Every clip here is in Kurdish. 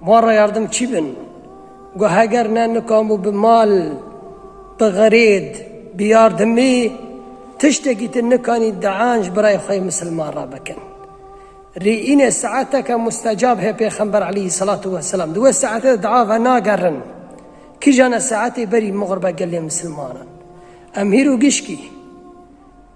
Wan re yardim çi bin? Got heger ne nikamû bi mal, bi xirêd, bi yardimî tiştekî tu nikanî dean ji birayê xwe yê misilman re bikin. Rê înê saeteke mustecab heye pêxember aleyhî selatû weselam di wê saetê de dua venagerin. Kija ne saetê berî mixurbe gelê misilmanan. Em hîr û gişkî.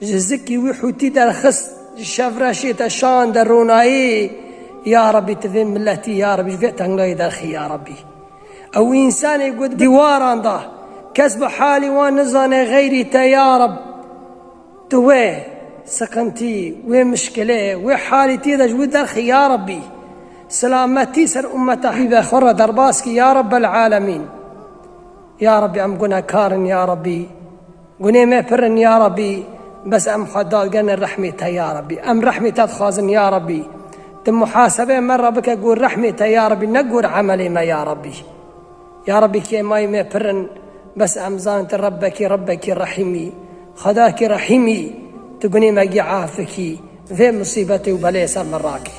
Ji zikî wî Hûtî derxist ji Şevreşê te şande ronayê ya Rebî tu vê miletî ya Rebî ji vê tengayê derxî ya Rebî. Ew wî însanê got dîwaran da kes bi halî wan nizane xeyrî te ya Reb tu wê siqintî, wê mişkilê, wê halî tî de ji wî derxî ya Rebî. Silametî ser ummeta hîve xwe re derbas kî ya Rebel'alemîn. Ya Rebî em gunekar in ya Rebî Gunê me pir in ya Rabbî bes em xwe dagenin rehmê te ya Rabbî. Em rehmê te dixwazin ya Rabbî. Tu muhasebeyê me re bike gor rehmê te ya Rabbî ne gor emelê me ya Rabbî. Ya Rabbî kêmayî me pir in bes em zanin tu Rebbekî Rebbekî rehîm î. Xwedakî rehîm î. Tu gunê me gî af bikî. Vê misîbetê û beleyê ser me rakî.